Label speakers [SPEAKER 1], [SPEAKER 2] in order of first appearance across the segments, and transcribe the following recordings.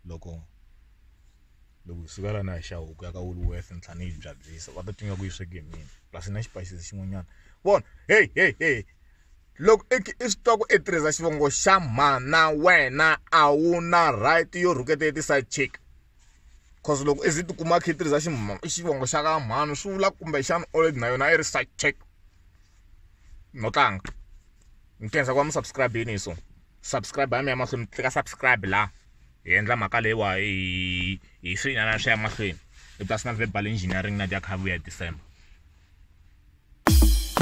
[SPEAKER 1] loko loko hi suka lana hi xa huku ya ka Woolworth ni tlhela ni yi byabyisa va ta twa ingaku yi sweke hi mina plus na xipayisisi xin'wanyana vona heyi heyi heyi loko i i swi twa ku i tirhisa xivongo xa mhana wena a wu na right yo rhuketa ya ti-side chick coz loko i ze i tikuma i kha i tirhisa xivongo xa ka mhani swi vula kumbexana old na yona a yi ri side chick no tlanga ni khensa ku va mi subscribe-ini hi so. subscribe ya mi ya mahlweni mi tlika subscribe la hi endla mhaka leyiwa hi hi swinyana swi ya mahlweni i personal verbal engineering na dyakhavuya hi december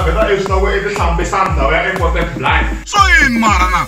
[SPEAKER 1] vheta eswi loko i tihlambisa ndhawu ya important blind so yini marana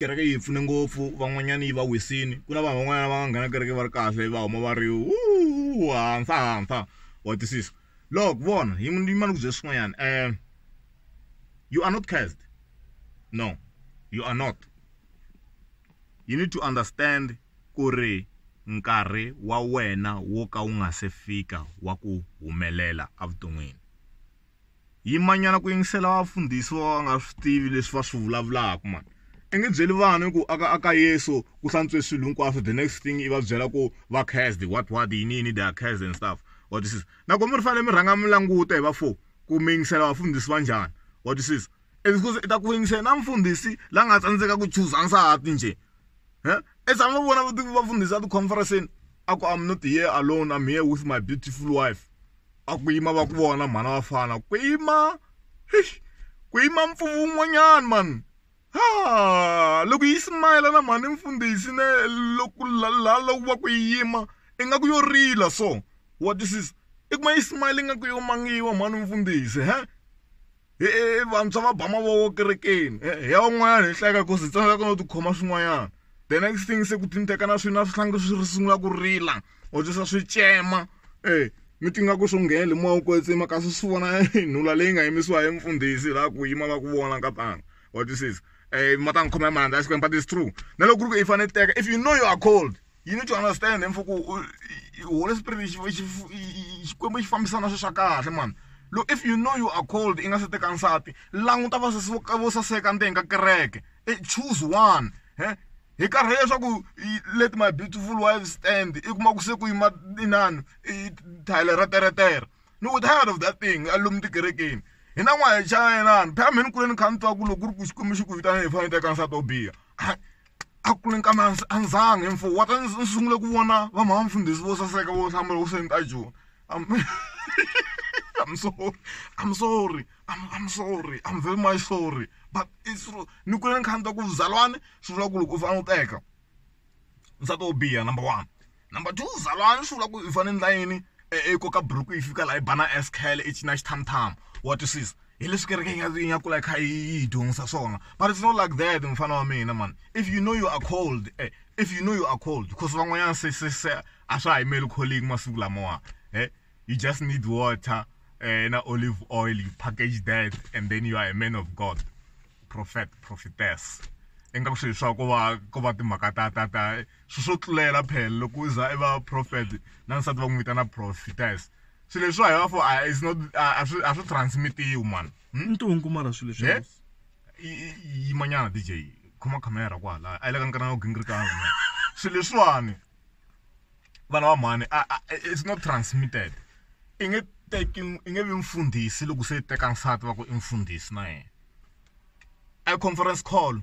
[SPEAKER 1] kereke yi hi pfune ngopfu van'wanyana yi va wisini ku na vanhu van'wanyana va nga nghena kereke va ri kahle va huma va ri u hansa hansa wa twisisa loko vona yi ni yima ni ku byela swin'wanyana um you are not cursed no you are not you need to understand ku ri nkarhi wa wena wo ka wu nga se fika wa ku humelela evuton'wini. Yimanyana ku yingisela vafundhisi vo ka va nga swi tivi leswi va swi vulavulaka mani. I nge byeli vanhu ku a ka a ka Yesu ku hlantswe swilo hinkwaswo the next thing i va byela ku va cursed what what yini yini they are cursed and stuff wa twisisa. Nakona mi fanele mi rhanga mi languta hi vafo ku mi yingisela vafundhisi va njhani wa twisisa. It's because i ta ku yingisela na mfundhisi la nga tsandzeka ku chuza nsati njhe. huh? e tshama va vona va fundhisa ti-conferenceni a ku am not here alone am here with my beautiful wife a ku yima va ku vona mhana wa fana ku yima ku yima mpfuvu wun'wanyana mani ha loko yi simayela na mhani mfundhisi ne loko la loko va ku yima ingaku yo rila so what this is i kuma yi simayela ingaku yo mangiwa mhani mfundhisi he He vantshwa va ba mavoko kerekeni hi ya un'wanyana hi hleka ku hi tsandzeka no tikhoma swin'wanyana the next thing se ku tinteka na swi na swihlangi swi sungula ku rila or swi swi tsema e mi ti nga ku swo nghena le moya wu kwetsima kasi swi vona nhula leyi nga yimisiwa hi mfundhisi laha ku yima va ku vona nkatanga wa twisisa ma ta n'wi khoma hi mandla ya Xikwembu but it's true na loko ku ri ku i fanele i teka if you know you are called you need to understand mfo ku holy spirit xikwembu xi fambisana swi swa kahle mani look if you know you are cold i nga se teka nsati languta va vo saseka ndzeni ka kereke e choose one he hi karhi leswaku let my beautiful wife stand i kuma ku se ku yima inani i thayele ra teretere ni ku tired of that thing a lomu tikerekeni hi na n'wana hi chayelana phela mheni kuleni kha ni twa ku loko ku ri ku xikwembu xi ku vitana hi fanele teka nsati wo biha a ku ni kambe a ndzi a ndzi mfo wa ta ndzi sungule ku vona va mhana mfundhisi vo saseka vo hlamba loko se ni ta joni I'm sorry I'm sorry I'm, I'm sorry I'm very much sorry but it's true ni kule ni kha ni twa ku zalwani swi vula ku loko u fanele u teka nsati wo biha number one Number two, zalwana swi vula ku i fane ni endla yini i koka buruku yi fika laha yi ba na S-curl i cina xithamuthama wa twisisa hi leswi kereke yi nga yi nga kula yi kha yi hi dyondzisa swona but it's not like that mufana wa mina mani if you know you are cold eh, if you know you are cold because van'wanyana se se se a swa ha yimeli calling masiku lamawa eh you just need water eh, na olive oil you package that and then you are a man of god prophet prophetess ingaku swilo swa ku va ku va timhaka ta ta ta swilo swo tlulela phela loko u za i va prophet na nsati va n'wi vitana prophetess swilo leswi hi va for a is not a swi a swi transmitiwi mani hmm? ntungu mara swilo
[SPEAKER 2] leswi eh?
[SPEAKER 1] yimanyana dj khoma camera kwala a yi le ka nkarhi na gingirikanga swilo leswiwani vana va mhani it's not transmitted i nge teki i nge vi mfundhisi loko se teka nsati va ku i mfundhisi na yena a conference call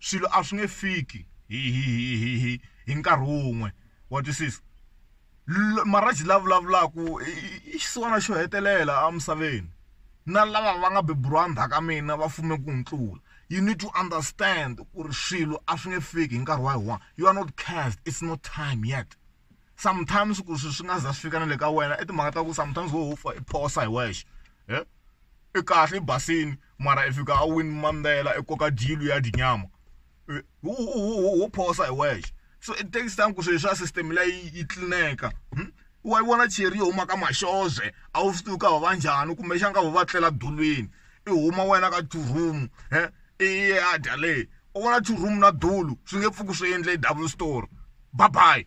[SPEAKER 1] swilo a swi nge fiki hi hi hi hi hi hi nkarhi wun'we wa twisisa marhaji la vulavulaka i xisiwana xo hetelela emisaveni na lava va nga beburiwa ndzhaku ka mina va fume ku ni tlula you need to understand ku ri swilo a swi nge fiki hi nkarhi wa yi one you are not cast it's not time yet. sometimes ku swi swi nga za swi fika na le ka wena i timhaka ta ku sometimes wo ho i phosa hi wexe i kahle i basile mara i fika a win mandzhela i koka dyilo ya dyi nyama wo phosa hi wexe so it takes time ku swilo swa system leyi yi tlilineka wa yi vona cheri yi huma ka maxoza a wu swi tivi ku va va njhani kumbexana ka va va tlela dulwini i huma wena ka two room . i ya dya leyi u vona churumu na dulu swi nge pfuki swi endle double story bye bye